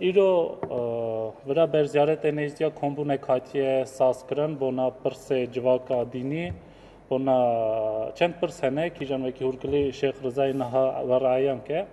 Îro vira berziyaretê nêzdîya kombûnek hatiye sazkirin bona pirsê civaka dînî bona çend pirs hene kîjan wekî hûrkilî Şêx Rizayê niha werreyan ke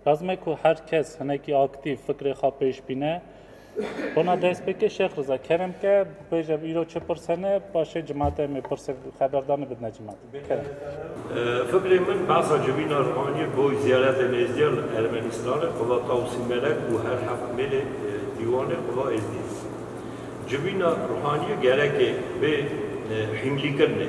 Lazim e ku her kes hinekî aktîv fikrê xwe pêş bîne. Bona dest pêke Şêx Riza kerem ke bêje îro çi pirsene paşê cemaate em ê pirsê xeberdanê bidine cemaate. Kerem. Fikrê min behsa civîna Rwanî bo ziyaretê nêzdîya li Ermenistanê qiva Tawsî Melek û her heft mêlê dîwanê qiva Êzdî. Civîna Rwanî gerekê bê hîmlîkirine.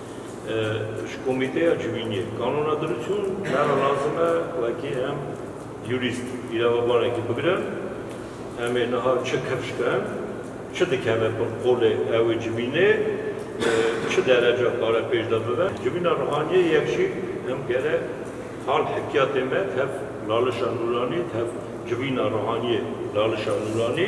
Ji komîteya civîniyê kanûna diruçûn nera lazim e wekî em yurîst îrevebanekî bigirin. Em ê niha çi kifş bin, çi dikeve bin qolê ew ê civînê, çi dereca kare pêş de bibe. Civîna Ruhaniyê yek jî em gerek hal hikiyatê me tev Lalişa Nûranî, tev civîna Ruhaniyê Lalişa Nûranî,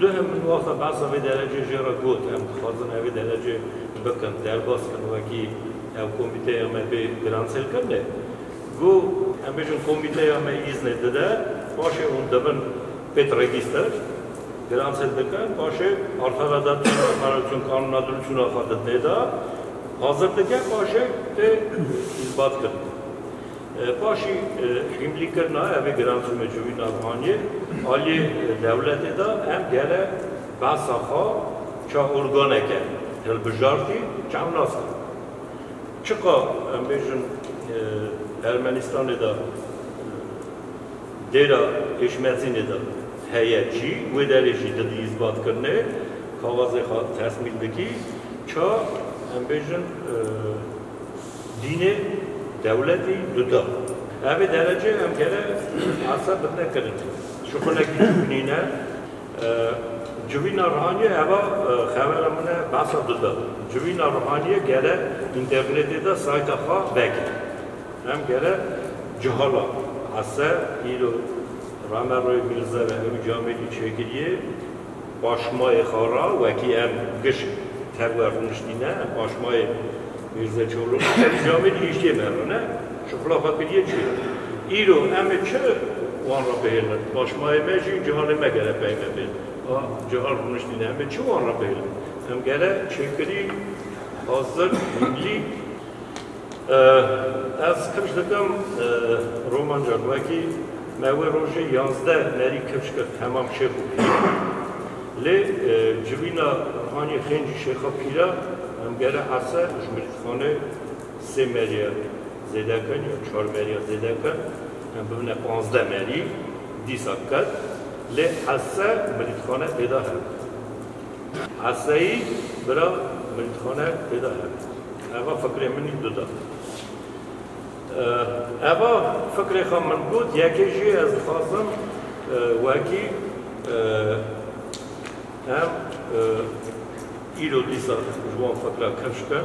Duhim min waxa behsa vê derecê jê re got, em dixwazin evê derecê bikin, derbas bin wekî ew komîteya me bê giranselkirinê. Go em bêjin komîteya me îznê dide, paşê hûn dibin pêt regîster, giransel dikin, paşê arxera da tê de qerar çûn kanûna dilçûna xwe di tê de hazir dike, paşê tê îsbatkirin. Paşî hîmlîkirina evê giranjî mecûyî navxaniyê aliyê dewletê de hem gele behsa xwe çi organeke hilbijartî çav nas kir. Çiqa em bêjin Ermenîstanê de dêra Êşmedzînê de heye cî wê derê jî di di îsbatkirinê kawazê xwe tesmîl dikî ça em bêjin Dînê, dewletî duta. Evê derece em kere arsa bidine kirin. Ji xulekî civînîne. Civîna rihanîye eva xevera min e behsa duta. Civîna rihanîye kere înternetê de sayta xwe veke. Em kere cihala hese îro Rameroyê Mîrze ve ew camêrî çêkirîyê. Paşmayê Xara wekî em gişt tevwe rûniştîne, em paşmayê Mîrze Çolûk û Serî Camî li hiştê me re ne, şixula xwe kiriye çîrok. Îro em ê çi wan re bihêlin? Paşmayê me jî cihanê me gere peyve bê. A cihan rûniştîne em ê çi wan re bihêlin? Em gere çêkirî, hazir, hîmlîk, Ez kifş dikim romanca wekî me wê rojê yazdeh nerî kifş kir hemam şêx û pîr. Lê civîna hanî xêncî şêxa pîra em gere ese ji mirîdxanê sê meriya zêde kin ya çar meriya zêde kin em bibine panzdeh merî dîsa ket lê ese mirîdxane pêda hebû. Esayî bira Milîtxane têda hebe. Eva fikrê min î duda. Eva fikrê xwe min got, yekê jî ez dixwazim wekî em îro dîsa ji wan fikra kevş bikin,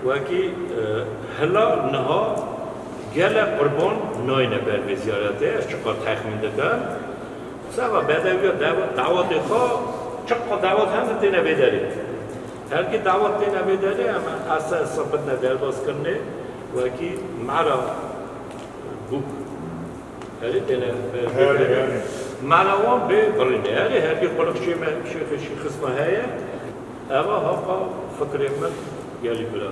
wekî hila niha gelek qurban nayne ber vê ziyarete, ez çiqar texmîn dikim, Seba Bedewiya dawetê xwe çiqas dawet heme têne vê derê. Herkî dawet têne vê derê em ese sebitne derbas kirinê wekî mera bûk herî têne vê derê. Mera wan bê birînê. Herî herkî quliq şême şêxê şîxisme heye. Eva haqa fikrê min gelî bira.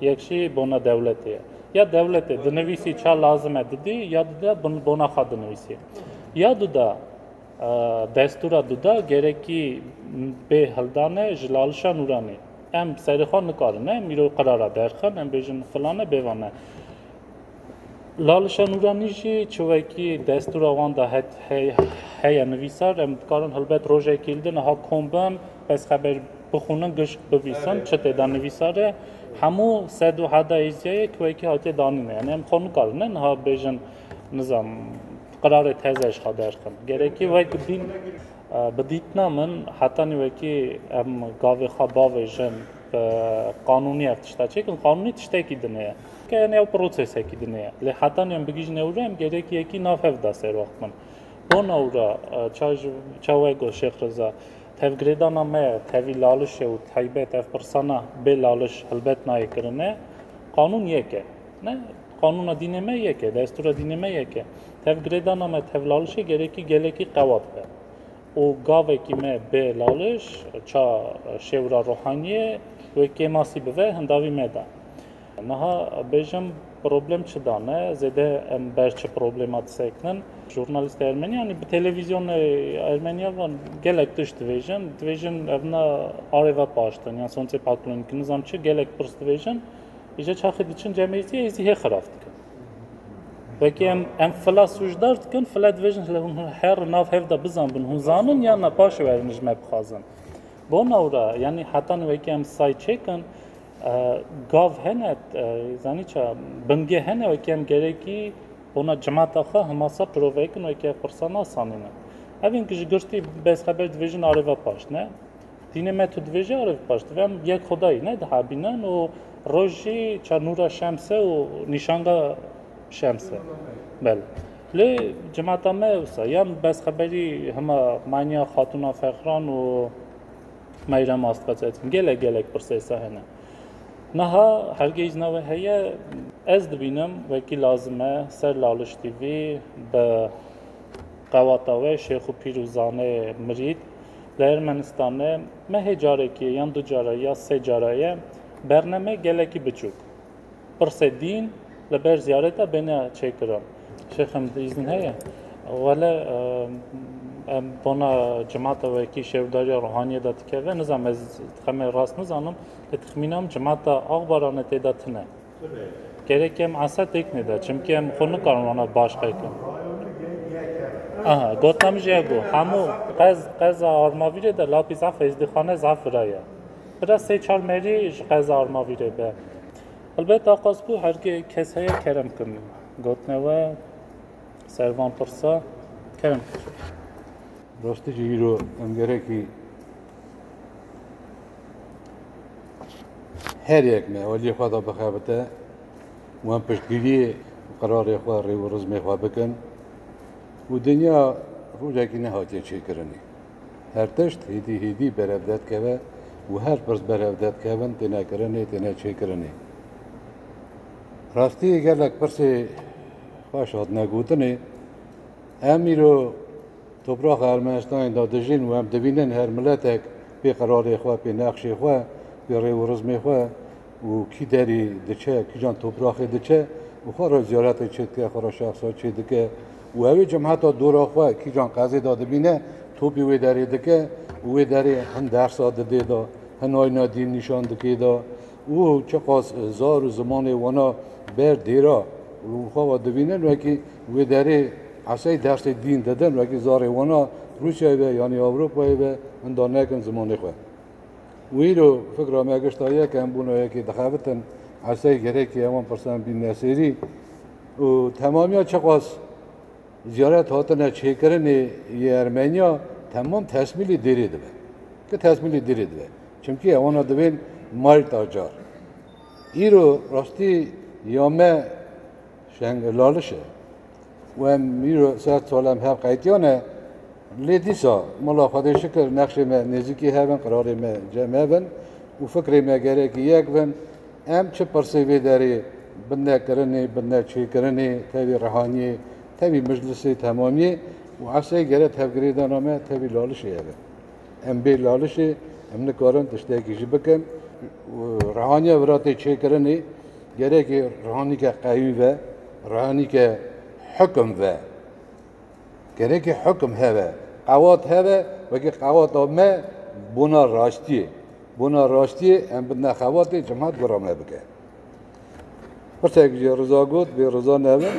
Yek jî bona dewletê ye. Ya dewletê dinivîsî ça lazim e didî ya dida bona xwe dinivîsî. Ya duda destûra duda gerekî bê hildane ji lalişa nûranê. Em serê xwe nikarin ne mîro qirara derxin em bêjin filan e bêvan e. Lalişa Nûranî jî çiwekî destûra wan da heye nivîsar em dikarin helbet rojekî li din niha kom bin pez xeber bixwînin gişt bivîsin çi tê de nivîsar e hemû sed û heda êziyayê ki wekî hatiye danîn e yani em xwe nikarin ne niha bêjin nizam qirarê teze ji xwe derxin gerekî wek bîn bi dîtina min hetanî wekî em gavê xwe bavêjin qanûnî ev tişta çêkin qanûnî tiştekî din e Keyên ew prosesekî din e. Lê heta niyan bigijin ew re em gerek yekî nav hev da ser wax bin. Bon ew ra çawe got Şêx Reza. Tevgirêdana me tevî laliş e û taybet ev pirsana bê laliş helbet nayê kirine. Qanûn yek e. Ne qanûna dînê me yek e, destûra dînê me yek e. Tevgirêdana me tev lalişê gerekî gelekî qewat be. Û gavekî me bê laliş ça şêwira ruhaniyê wê kêmasî bive hindavî me da. Niha bêjim problem çi da me, zêde em ber çi problema disekinin. Jurnalîsta Ermeniyanî bi televîzyonê Ermeniya van gelek tişt divêjin. Divêjin ev na arê ve paştin yan soncê paklon ki nizam çi gelek pirs divêjin. Îje çaxê diçin cemêrîtiyê êzî hê xiraf dikin. Wekî em em fila sûcdar dikin, fila divêjin hile hûn her nav hev de bizanbin, hûn zanin yan na paşê werinij me bixwazin. Bona ora yanî heta nû wekî em say çêkin Gav hene zanî ça bingê hene wekî em gerekî ona cemata xwe himasa pirovekin wekî ev pirsa nasanîne. Evên ki ji girtî bez xeber divêjin arêva paş ne. Dînê me tu divêjî arêv paş divê em yek xudayî ne dihabînin û rojî ça nûra şemse û nîşanga şemse. Bel. Lê cemata me wisa yan bez xeberî hima maniya xatûna fexran û Meyrem Astqeçeçîn gelek gelek pirsêsa hene. Niha hergeyî jina wê heye ez dibînim wekî lazim e ser laliştî vî bi qewata wê şêx û pîr û zanê mirîd li Ermenistan e me hê carekê yan du cara ya sê cara ye berneme gelekî biçûk. Pirsê dîn li ber ziyareta bêne çêkirin. Şêxim izin heye? Wele em bona cemata wekî şêwdariya ruhaniyê de dikeve. Nizam ez dixeme rast nizanim. Li tixmîna min cemata axbarane tê de tune. Gerek em asa têkne de. Çimkî em xwe nikarin wana baş qekin. Aha, gotam ji ego. Hemû qez qeza armavîrê de lapî zaf ezdîxane zaf viraye. Bira sey çar merî ji qeza Armavî rê be. Helbet axaz ku hergê kes heye kerem kin. Gotine we ser van pirsa kerem kir. Rastî jî îro em gerekî her yek me aliyê xwe da bixebite û em piştgiriyê qerarê xwe rê û rizmê xwe bikin û dinya rojekî nehatiye çêkirinê. Her tişt hêdî hêdî berevde dikeve û her pirs berevde dikevin têne kirinê, têne çêkirinê. Rastiyê gelek pirsê xweş hatine gotinê. Em îro topraxa Ermenistanê de dijîn û em dibînin her miletek pê qerarê xwe, pê nexşê xwe, pê rêw û rizmê xwe û kî derî diçe, kîjan topraxê diçe û xwe re ziyaretê çê dike, xwe re şexsa çê dike û ew ê cemheta dora xwe kîjan qezê de dibîne topî wê derê dike û wê derê hin dersa didê de, hin ayna dîn nîşan dikê de û çiqas zar û zimanê wana ber dêra û xwe ve dibînin wekî wê derê esey dersê dîn didin wekî zarê wana Rûsyayê be yanî Ewropayê be hinda nekin zimanê xwe. Wîro fikra me gişta ye ke em bûna yekê dixebitin, esey gerekî ye wan pirsan bîn nesêrî û temamiya çiqas ziyaret hatine çêkirinê yê Ermeniya temam tesmîlî dêrê dibe. Ke tesmîlî dêrê dibe. Çimkî ew wana dibên mayl tacar. Îro rastî ya me şeng laliş e. We mîro ser tolem hev qeytiyane. Lê dîsa mala Xwedê şikir nexşê me nêzîkî hev in, qirarê me cem hev in û fikrê me gerekî yek bin. Em çi pirsê vê derê bi nekirinê, bi neçêkirinê, tevî rihaniyê, tevî mijlisê temamiyê û eseyê gere tevgirêdana me tevî lalişê ev e. Em bê lalişê em nikarin tiştekî jî bikin. Rihaniya viratê çêkirinê. Gerekê rehanîke qeyûm ve, rehanîke hukum ve. Gerekê hukum heve, qewat heve, wekî qewata me bona raştiyê. Bona raştiyê em bidine xebatê cemaat gora me bike. Pirsek jî riza got, bê riza nebe.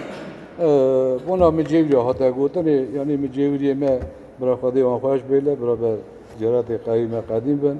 Bona min cêwîrê hate gotinê, yanî min cêwîrê me bira Xwedê wan xweş bêle, biraber Cêratê qeyûme qedîm bin.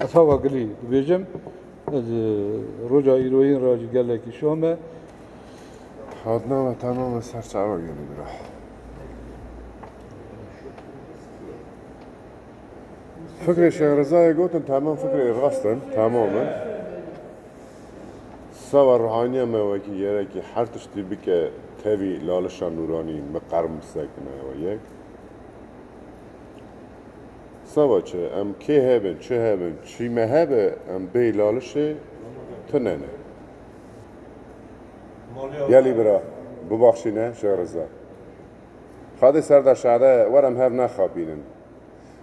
Ez hava gilî dibêjim. Ez roja îroyîn re jî gelekî şo me. Hatina me tena me ser çawa gelî bira. Fikrê Şêx Rezayê gotin tamam fikrê rast in, tamam in. Sava ruhaniya me wekî yerekî her tiştî bike tevî lalişa nûranî miqer misekine we yek. Seba çi, em kê hebin, çi hebin, çî me hebe, em bê lalişê tune ne. Gelî bira, bibaxşîne Şêx Riza. Xadê serda şade, wer em hev nexapînin.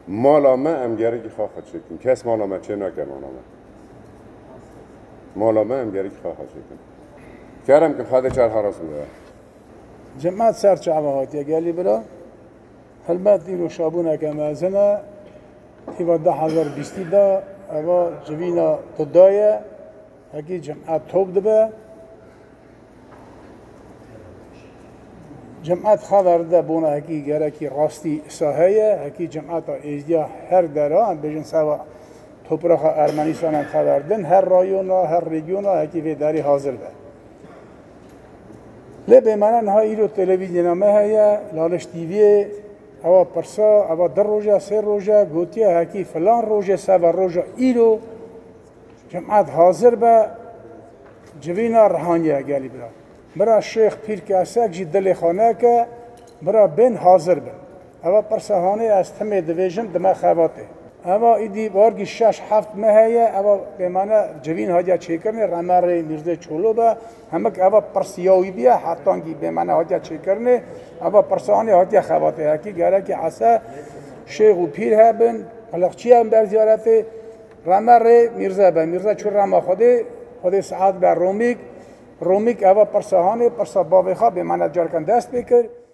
Mala me em gerekî xaxa çêkin. Kes mala me çê nake mala me. Mala me em gerekî xaxa çêkin. Kerem kin xadê çar haras bûye. Cema çar çava hatiye gelî bira. Helbet îro şabûneke mezin e. Tîva du hezar û bîstî de eva civîna Kuda ye. Hekî cem'et top dibe. Cem'et xever de bona hekî gerekî rastî îsa heye. Hekî cem'eta êzdiya her dera em bêjin seva topraxa Ermenîstana xever din. Her rayona, her rêgiyona hekî vê derê hazir be. Lê bêmana niha îro televîzyona me heye, Laliş TV'yê, ewa pirsa, ewa di roja, sê roja, gotiye hekî filan rojê seba roja îro cemaat hazir be, civîna rihaniye gelî bira. Bira Şêx Pîrkesek jî dilê xaneke, bira bên hazir bin. Eva pirsa hanê ez timê divêjim di me xebatê. Eva îdî wargî şeş heft mehe ye, eva pêmane civîn hatiye çêkirinê remerê Mîrzê Çolo be. Hemik eva pirs ya wî biye, heftangî pêmane hatiye çêkirinê. Eva pirsa hanê hatiye xebatê. Hekî gerekî ese şêx û pîr hebin, qiliqçiyan ber ziyaretê remerê Mîrze be. Mîrze çû rema Xwedê, Xwedê siat be Romîk. Romîk eva pirsa hanê, pirsa bavê xwe pêmane carikan dest pê kir.